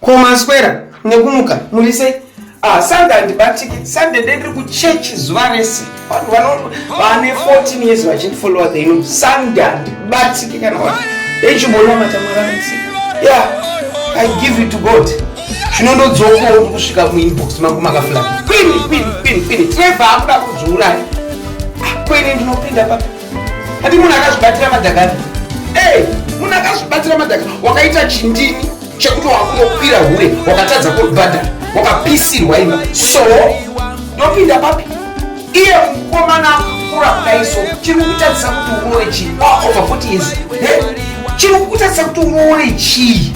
Ko maswera nekumuka muri sei? Ah, Sunday handibatiki. Sunday ndendiri kuchechi zuva rese. Vanhu vane 14 years vachindifollowa they know Sunday handibatiki kana wani. Dai chimboona matamara misi. Yeah, I give it to God. Chinondodzokawo kusvika muinbox mangu makafula. Kwini, kwini, kwini, kwini. Trevor akuda kuzviuraya. Ah, kwini ndinopinda papi. Ati munhu akazvibatira madhakani. Eh, munhu akazvibatira madhakani. Wakaita chindini chekuti wakunokwira hure wakatadza kubhadhara wakapisirwa ima so ndopinda papi iye mukomana akura kudaiso chiri kukutadzisa kuti uroore chii over 40 years chiri kukutadzisa kuti uroore chii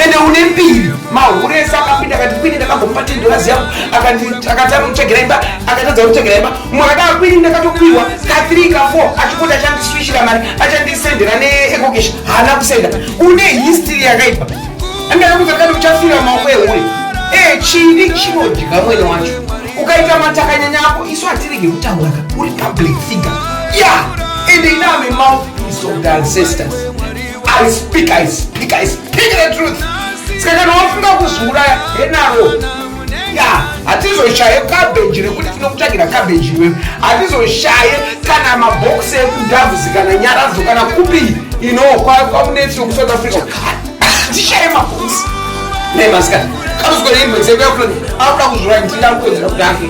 ende une mbiri mahure ese akapinda akati kwini ndakagomba tendorazi yangu akatanga kutsvagera imba akatadza kutsvagera imba umwe akataa kwini ndakatopiwa kathri kafour achipoti achandiswishira mari achandisendera neekokeshi haana kusenda une history yakaipa andakakuza kati uchafira maoko ehure ee eh, chini chinodya mwene wacho ukaita matakanyanya ako isu hatirege kutaura ka uri public figure ya yeah. ende iname mouth is of the ancestors I speak, I speak, I speak the truth. Saka kana wafunga kuzviuraya henaro ya hatizoshaye kabheji rekuti tinokutsvagira kabheji iwewe hatizoshaye kana mabhokisi ekudhavuzi kana nyaradzo kana kupi ino kwamunetsi wekusouth africa hatishaye mabhokisi nemasikana kamusikoreimbo dzekuyakunoda akuda kuzviuraya ndindakuwedzera kuti afe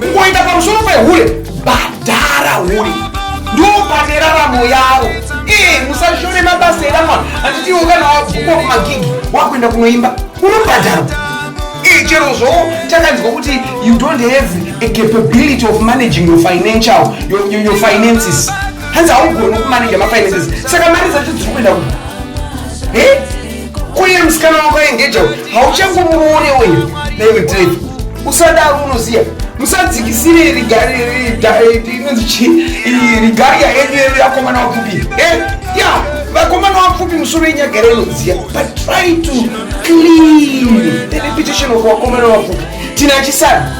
kungoenda pamusoro pehure badhara hure ndopane raramo yavo ee musashore mabasa eramwana handitiwo kana wabvukwa kumagigi wakuenda kunoimba unobhadharwa ee chero zvo chakanzwa kuti you don't have a capability of managing your financial your, your, your finances hanzi haugoni kumaneja mafinances saka mari dzacho dziri kuenda ku e uye musikana wako engeja hauchangomuone uyu naiwe drive usadaro unoziva musadzikisire rigariya yenyu yedu yakomana wapfupi eh, ya vakomana wapfupi musoro yenyagara inoziva but try to clean the reputation of wakomana wapfupi tina chisana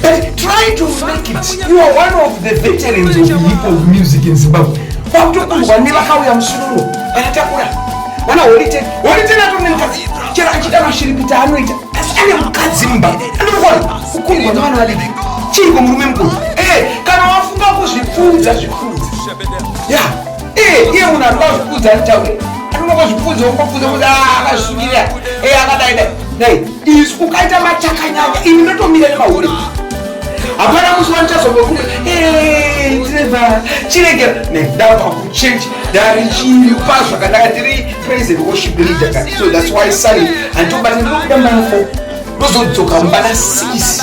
But try to make it. You are one of the veterans of hip hop music in Zimbabwe. Kwakutokunzwa nevakauya musururu vanatakura vana holiteni holiteni atone mukadzi chero achida mashiripiti anoita asi ane mukadzi mumba anokona kukundwa nevana vadiki chiiko murume mukuru eh, kana wafunga kuzvipfuudza zvipfuudza ya eh, iye munhu anoda zvipfuudza anotaura anoda kuzvipfuudza wokopfuudza kuti ah, akasvukira eh, akadaidai izvi ukaita machakanyanya ini ndotomira nemahure hapana musi wanichazobva kuti treva chiregera nendava kuchange ndarichipa zvakadaka ndiri president worship leader ka so thats why sali handitobata ndinokuda mbana fo ndozodzoka mbana sisi